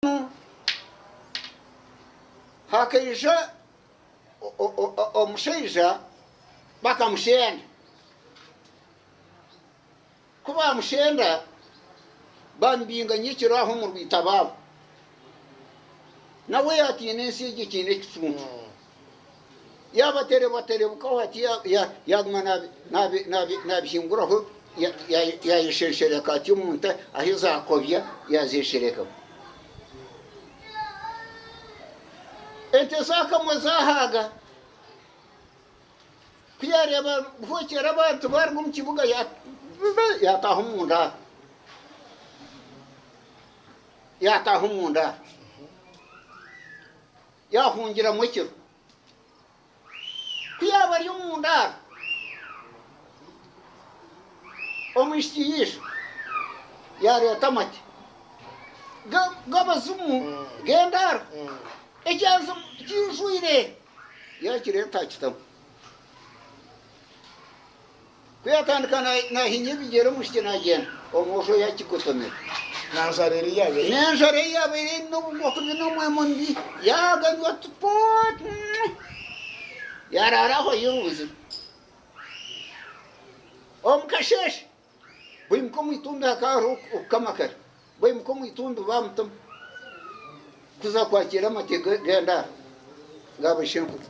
Mbwenu hakaija omushaija bakamushenda. Ku baamushenda bamubinga nyekiro aho omu rwitaba aho. Nawe yaatiina ensi egyo ekiine ekicuncu. Yaabaterebuterebukaho hati yaaguma naabihinguraho yaayeshereshereka hati omu nte ahu zaakobya yaazeesherekamu. Ente zaakamwa zaahaaga, ku yaareeba buhwekyera abantu baaruga omu kibuga yaataaha omu ndaaro. Yaataaha omu ndaaro. Yaahungiramu ekiro. Ku yaaba ari omu ndaaro, omwishiki yaija, yaareeta amate g'abazimu g'endaaro, ekyanzi kijwire, yaakireeta akitamu. Ku yaatandika naahinya ebigyere omwishiki naagyenda, omwojo oyo akigutomera. N'enjara ei yaabaire. N'enjara ei yaabaire eine obuguku bwine omwema omubi, yaaganywa tupu, yaaraara aho ayerunzire. Omu kasheeshe, baimuka omu itumbi hakaba hariho okukama kare. Baimuka omu itumbi bamutuma kuza kwakiira amate g'endaara ga baishenkuru.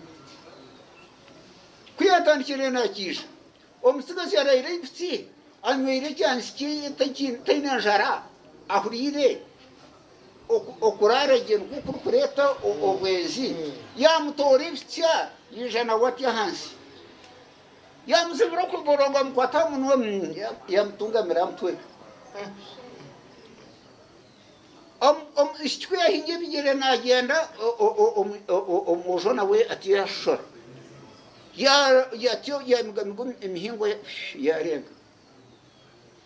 Ku yaatandikire naakiija, omutsigazi araire aibutsi anyweire ekyansi kye taine njara, ahuriire okuraara gye nikwo kurikureeta obwenzi, yaamutoora ebitsya, yaija nawe atya ahansi. Yaamutsibira okuborongo amukwata aha munwa, yaamutungamira aha mutwe. Omwishiki ku yaahinga ebigyere naagyenda, omwojo nawe atyo yaashoshora. Atyo yaamigamiga emihingo, yaarenga.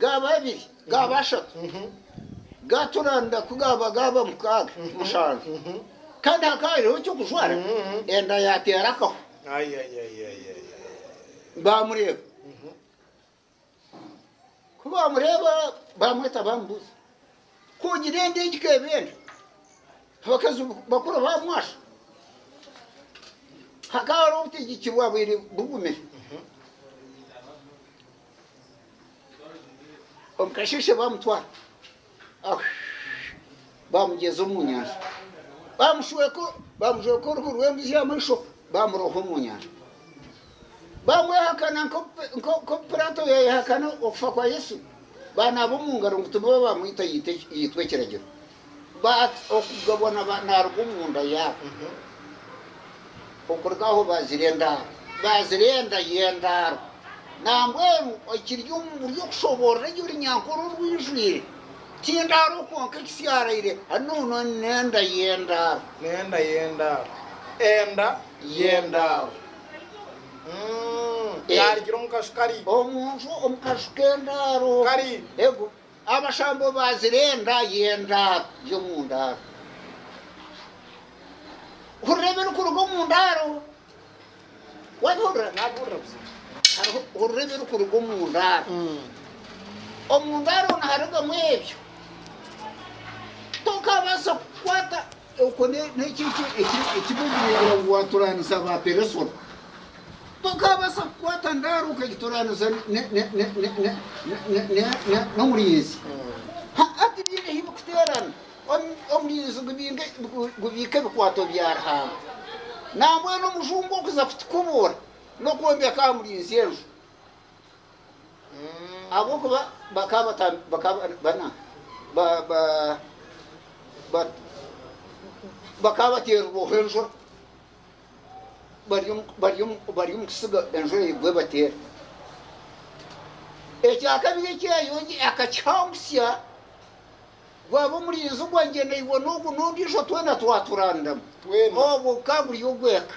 gaaba abiri, gaaba ashatu, gaatura nda ku gaaba gaaba mukaaga, mushanju, kandi hakaba hariho eky'okujwara, enda yaateera akaho. Baamureeba. Ku baamureeba baamweta baamubuuza, ku ogira enda egi ka eba enda? Abakazi bakuru baamwasha. Hakaba hariho obutegyeki bwaabaire bugumire. Omukasheeshe baamutwara baamugyeza omu nyanja baamushweka baamujweka oruhu rw'embuzi y'amaisho baamuroha omu nyanja baamwehakana nk'oku Piraato yaayehakana okufa kwa Yesu baanaaba omu ngaro ngu tibaaba baamwita yaitwa ekiragiro But okugabwa naruga omunda yaabo okuruga aho bazira endaaro bazira enda y'endaaro nambwenu ekiri omumuri okushoborora egyo Runyankore orwijwire tindaaro kwonka ekisiaraire hanuuno nenda y'endaaro nenda y'endaaro enda y'endaaro mm, eh. yarugire omukashu kari omunju omukashu k'endaaro kari ego Abashambo baazirenda y'endaaro y'omu ndaaro. Hurira ebirikuruga omu ndaaro. Waabihurira? Naabuurira buzamu. Hariho, hurira ebirikuruga omu ndaaro. Omu ndaaro niharugamu ebyo. Tokaabaasa kukwata Okwo n'ekyo eki barikureebera ngu waaturaanisa abaaperesona. Tokaabaasa kukwata ndaaro okagituraanisa n'omurinzi. Ha-a, tibiine ahu birikuteerana. Omurinzi gubiika ebikwaato bya Ruhanga. Nambwenu omujungu okuza kutukubuura n'okwombeka aha murinzi enju. Ahabw'okuba bakaba bateerirweho enjura bari omu kutsiga enjura egwe ebateere. Ekya kabiri eki Yayongi akakihangutsya gwaba omurinzi ogwa ngyendaihwa n'ogu n'ondiijo twena twaturandama, obwo gukaba guri ogw'eka.